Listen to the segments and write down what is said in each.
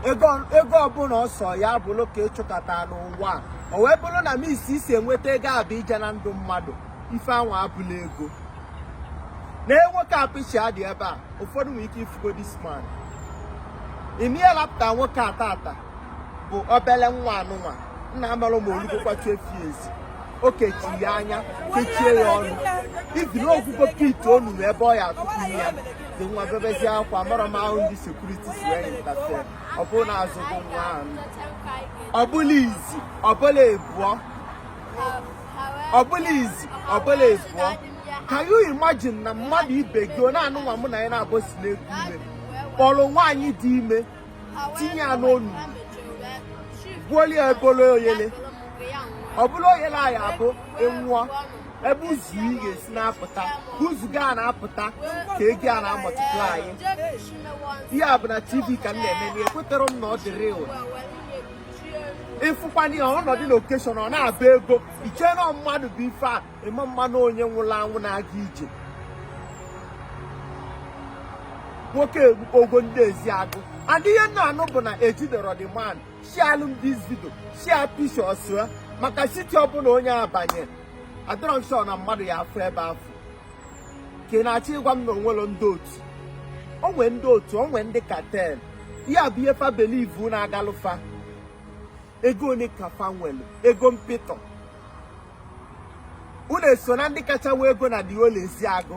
ego ọbụla ọ sọ ya bụrụ ka ị chụkata n'ụwa o wee bụrụ na means i si enweta ego a bụ ije na ndụ mmadụ ife anwa abụrọ ego nee nwoke a picture ya dị ebe a ụfọdụ nwere ike ifugo this man ị ma ihe lapụta nwoke a taata bụ obele nwa anụnwa na amarọ m ma o lugokwa twelve years o kechiri ya anya kechie ya ọnụ even o gwugo pit onunu ebe ọ ya atụkwu ya the nwa bebezie akwa amarọ m how ndị security si wee interfere ọ bụrụ na a zọgo nwa ahụ ọ bụrọ izi ọ bụrọ ibụọ ọ bụrọ izi ọ bụrọ ibụọ can you imagine na mmadụ ibe gị ọ na anụnwa mụ na gị n'abụọ si na-eku ume kpọrọ nwaanyị dị ime tinye ya n'onu gbuolie ebolo oyele ọ bụla oyele anyị abụ enwụọ ebe uzu ya ga-esi na-apụta uzu ga na-apụta ka ego a na-amultiply ihe a bụ na tv ka m na-eme na ekwetarọ m na ọ dị real ị fụkwa onye a ọ nọdụ na occasion ọ na-abụ ego i chee na mmadụ bụ ife a ị ma ama na onye nwụrụ anwụ na-aga ije nwoke ogo ndị ezeagụ and ihe m na-anụ bụ na ejiderọ the man share alụ m the video share pictures maka city ọbụla ọ ya abanye adụrụ m sure na mmadụ ya afụ ebe afụ ka ị na-achọ ịgwa m na o nwerọ ndị otu o nwe ndị otu o nwe ndị cartel ya bụ ihe fa believe na-agalụ fa ego one ka fa nwere ego mpịtọ unu eso na ndị kacha nwee ego na the whole ezeagụ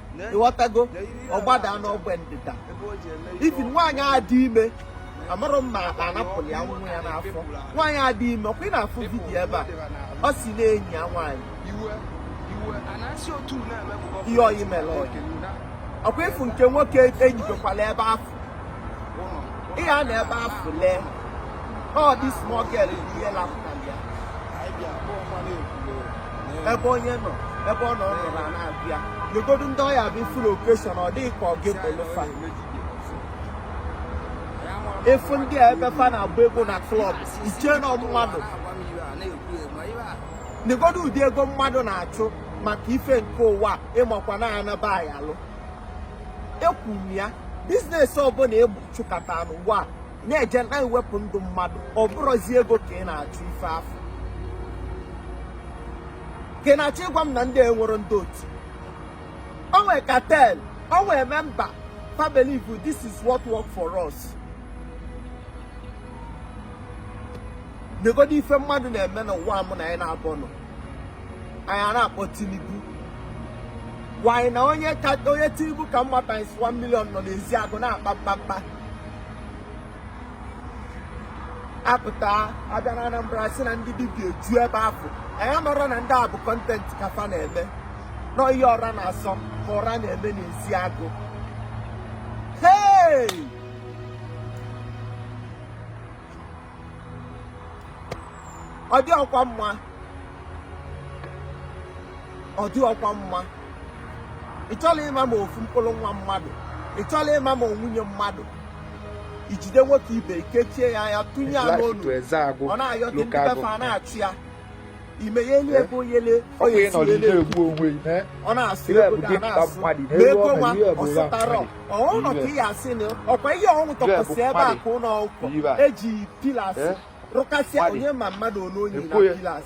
ị ghọtago ọ gbada n'ogbe ndịda even nwaanyị a dị ime amarọ m ma a napụrụ ya nwa ya n'afọ nwaanyị a dị ime ọkwa ị na-afụ video ebe a ọ si na-enyi ya nwaanyị ihe oyi mere ọkwa ị fụ nke nwoke enyibekwala ebe afụ ị ya anọ ebe afụ lee ọ the small girl ihe lapụtara ya ebe onye nọ ebe ọ nọ ọ nọrọ na-abịa legodu ndị ọ ya abụ ị fụ n'occasion ọ dị gị ka ọ ga-ebolo fa ị fụ ndị a ebe fa na-agba ego na club i chee na mmadụ negodu ụdị ego mmadụ na-achụ maka ife nke ụwa ị makwa na anaba ya alụ ekwuru m ya business ọbụla ị chụkata n'ụwa a na-eje na-ewepụ ndụ mmadụ ọ bụrọzi ego ka ị na-achụ ife afụ ka ị na-achọ ịgwa m na ndị a enwerọ ndị otu o nwe cartel o nwe member fa believe this is what work for us negodu ife mmadụ na-eme n'ụwa mụ na gị n'abụọ nọ anyị a na-akpọ Tinubu nwanyị na onye Tinubu ka mma times 1 million nọ n'Ezeagu na-akpa mkpamkpa apụta abịa na Anambra sị na ndị dibịa eju ebe afụ anyị amarọ na ndị a bụ content ka fa na-eme nọ ihe ọra na-asọ ka ọra na-eme n'Ezeagu hey ọ dịrọkwa mma ọ dịrọkwa mma ị chọla ịma ma ofu mkpụrụ nwa mmadụ ị chọla ịma ma ọ nwunye mmadụ ijide nwoke ibe i kechie ya anya tụnye ya n'ọnụ ọ na-ayọ ndị be fa a na-achọ ya imeyeli ebe oyele ọ na-asị ego ga na-asụ ma ego nwa ọsụtara ọnọ ka ị asị na ọkwa ihe ọnwụ tọkwasị ebe a ka ụlọ ụkọ eji pillars rụkasịa onye ma mmadụ ole onye na pillars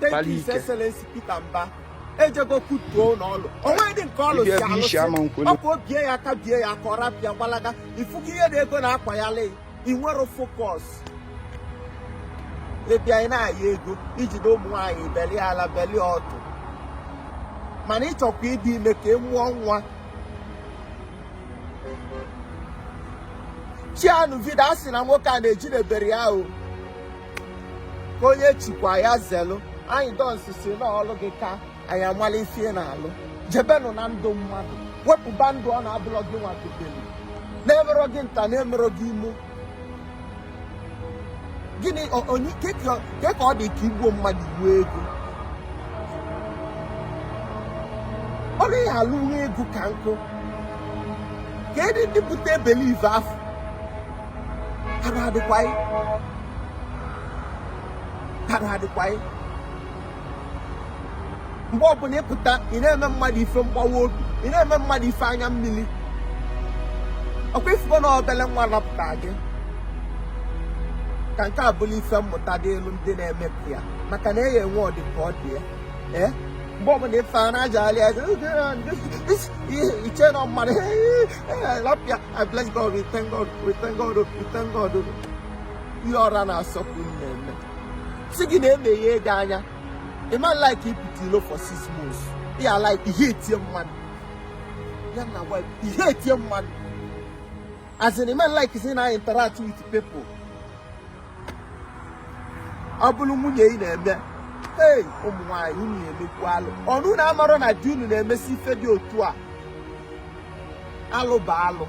Thank you, His Excellency Peter Mba. ejego kutuo n'ọlụ onweghị dị nke ọlụ si alụsị ọkụ obie ya aka bie ya aka ọ rapịa gbalaga ifugo ihe na ego na-akwa ya lee inwero focus ịbịa ị na-aya ego ijide ụmụ nwaanyị belie ala belie ọtụ mana ịchọkwa ịdị ime ka ị mụọ nwa chianu video a sị na nwoke a na ejidebero ya o ka onye chikwa ya zelu anyị dọnsụ si n'ọlụ gị ka anyị malụ ife ị na-alụ jebenụ na ndụ mmadụ wepụba ndụ ọ na-abụrọ gị nwa kebelu na-emerọ gị nta na-emerọ gị imo gịnị kee ka ọ dị ka igbuo mmadụ inwee ego ọ naghị alụ nwee ego ka nkụ kedi ndị bute belief afụ arụ adịkwa anyị arụ adịkwa anyị mgbe ọbụla ịpụta ị na-eme mmadụ ife mgbawa obi ị na-eme mmadụ ife anya mmili ọkwa ifugo na obele nwa lapụta gị ka nke a bụlụ ife mmụta dịịlị ndị na-emepụ ya maka na eya enwe ọdị ka ọ dị ya ee mgbe ọbụla ife a na-aja alị aja iche na mmadụ lapịa I bless God we thank God we thank God we thank God ihe ọra na-asọkwu mmemme si gị na-emeghe ego anya ịma like ịpụta ilo for six months ya like ihe etie mmadụ ya na wife ihe etie mmadụ as in ịma like sị ị na-interact with people ọ bụrụ nwunye ị na-eme ee ụmụ nwaanyị unu na-emekwu alụ ọ na unu amarọ na di unu na-emesi ife dị otu a alụ bụ alụ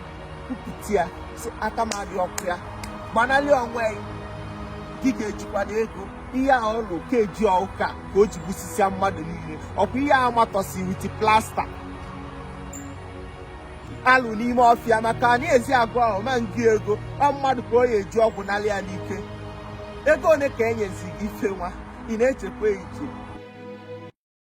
kwupụta ya sị aka m adịrọkwa ya gbanalị onwe gị ga-ejikwa na ego ihe a ọlụ ka eji ọka ka o ji gbusisia mmadụ niile ọkwa ihe a matọsị with plaster alụ n'ime ọfịa maka na ezi agụ ahụ ma ngị ego ọ mmadụ ka ọ ya-eji ọgwụ nalị ya n'ike ego one ka e nyezi gị ife nwa ị na-echekwa eche